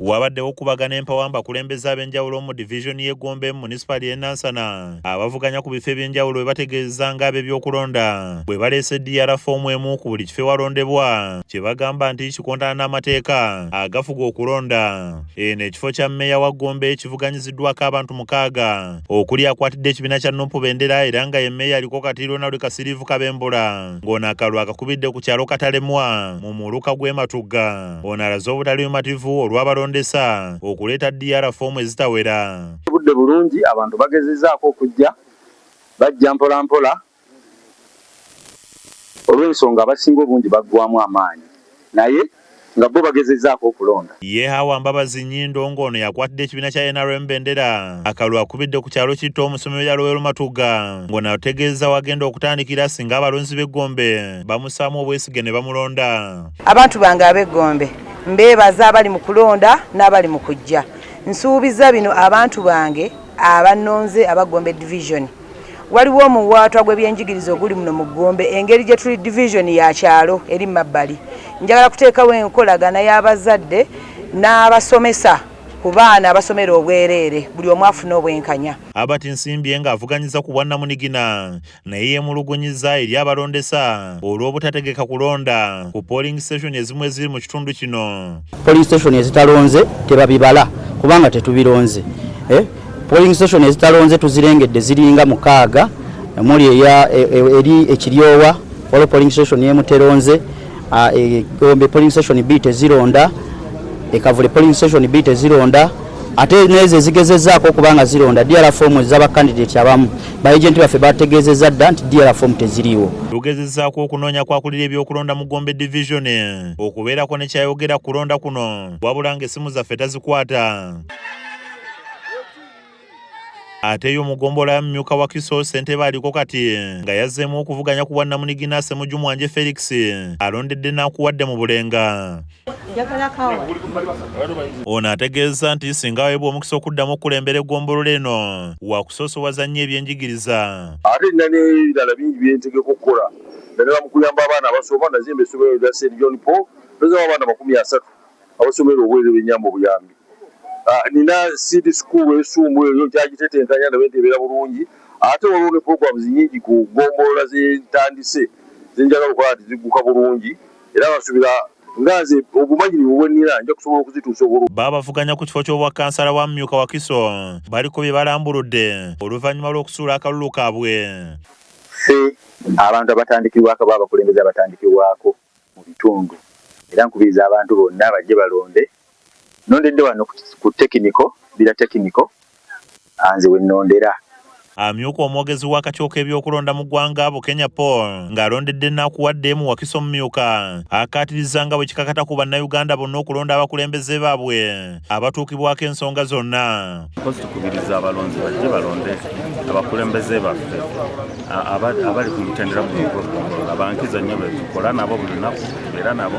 Wabaddewo okubagana empawa mu bakulembeze ab'enjawulo mu divizoni y'e Gombe mu munisipaali y'e Nansana abavuganya ku bifo eby'enjawulo bwe bategeeza ng'ab'ebyokulonda bwe baleese DR foomu emu ku buli kifo ewalondebwa kye bagamba nti kikontana n'amateeka agafuga okulonda. Eno ekifo kya mmeeya wa Gombe kivuganyiziddwako abantu mukaaga okuli akwatidde ekibiina kya Nup bendera era nga ye mmeeya aliko kati Ronald Kasiriivu Kabembula ng'ono akalwa akakubidde ku kyalo Katalemwa mu muluka gw'e Matugga. Ono alaze obutalimativu olw'abalondesa okuleeta DR foomu ezitawera. Obudde bulungi abantu bagezezaako okujja bajja mpolampola olw'ensonga abasinga obungi baggwamu amaanyi naye nga bbo bagezezaako okulonda. Ye Hawa Mbabazi Nyindo ng'ono yakwatidde ekibiina kya nrm bendera akalulu akubidde ku kyalo Kitta omusomi we Yalowero Matugga ng'ono ategeezeza wagenda okutandikira singa abalonzi b'e Gombe bamussaamu obwesige ne bamulonda. Abantu bange ab'e Gombe mbeebaza abali mu kulonda n'abali mu kujja. Nsuubizza bino abantu bange abannonze aba Gombe Division. Waliwo omuwaatwa gw'ebyenjigiriza oguli muno mu Gombe engeri gye tuli Division ya kyalo eri mabbali. Njagala kuteekawo enkolagana y'abazadde n'abasomesa ku baana abasomera obwereere buli omu afune obwenkanya. Herbert Nsimbye ng'avuganyiza ku bwannamunigina naye yemulugunyizza eri abalondesa olw'obutategeka kulonda ku polling station ezimu eziri mu kitundu kino. Polling station ezitalonze tebabibala kubanga tetubironze. Eh? Polling station ezitalonze tuzirengedde ziringa mukaaga omuli e, e, eri ekiryowa waliwo polling station yemuteronze Ah, e, Gombe polling station bbiri tezironda ekavule polling station bbiri tezironda ate nezo ezigezezaako okuba nga zironda dr fomu ezabakandidati abamu baagenti baffe bategeezezza dda nti dr fomu teziriiwo lugezezaako okunoonya kwakulira ebyokulonda mu gombe division okubeerako ne kyayogera kulonda kuno wabula nga essimu zaffe tazikwata Ate yo mugombolola ya mumyuka wa Kiso Ssentebe aliko kati nga yazzeemu okuvuganya ku bwannamunigina Ssemujju Mwanje Felix alondedde n'akuwadde mu Bulenga. Ono ategeezza nti singa aweebwa omukisa okuddamu okukulembera eggombolola eno wakusoosowaza nnyo ebyenjigiriza. Ate nina n'ebirala bingi bye ntegeka okukola naddala mu kuyamba abaana abasoma. Nazimba essomero erya St John Paul, mpezaawo abaana amakumi asatu. abasomera obwereere benyamba obuyambi ah, nina seed school esumbu eyo nkyagitetenkanya ndabe nti ebeera bulungi ate waliwo ne programs nyingi ku gombolola zentandise zenjagala okukola nti zigguka bulungi era basubira nga nze obumanyirivu bwenina nja kusobola okuzituusa obulu Babavuganya ku kifo ky'obwa kansala wa mumyuka Wakiso baliko bye balambuludde oluvannyuma lw'okusuula akalulu kaabwe. Ffe abantu abatandikirwako aba abakulembeze abatandikirwako. mu bitundu era nkubiriza abantu bonna bajje balonde. Nnondedde wano ku tekiniko, Bbira Tekiniko, nze we nnondera. Amyuka omwogezi w'akakiiko k'ebyokulonda mu ggwanga, Bukenya Paul ng'alondedde Nakuwadde mu Wakiso Omumyuka akkaatirizza nga bwe kikakata ku Bannayuganda bonna okulonda abakulembeze baabwe. abatuukibwako ensonga zonna. Mpozi tukubiriza abalonzi bajje balonde abakulembeze baffe abali ku mutendera guno ogw'okugombolola bankizo nnyo betukola nabo buli lunaku era nabo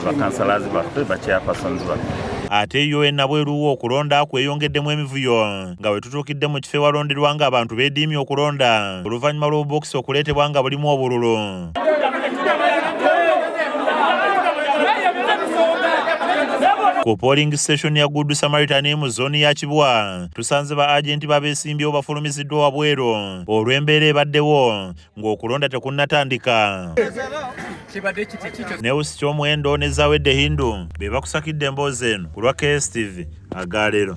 bakansalazi baffe bakyapasonzi baffe ate yo enabweruwo okulonda kweyongeddemu emivuyo nga wetutuukidde mu kifo ewalonderwa nga abantu bediimye okulonda oluvannyuma lw'obubokisi okuleetebwa nga bulimu obululu ku polling station ya Good Samaritan mu zone ya Kibwa tusanze ba agent babesimbyewo bafulumiziddwa wabweru olw'embeera ebaddewo ng'okulonda tekunnatandika newusi ky'omuwendo ne zawedde hindu be bakusakidde emboozi eno ku lwa KSTV agaalero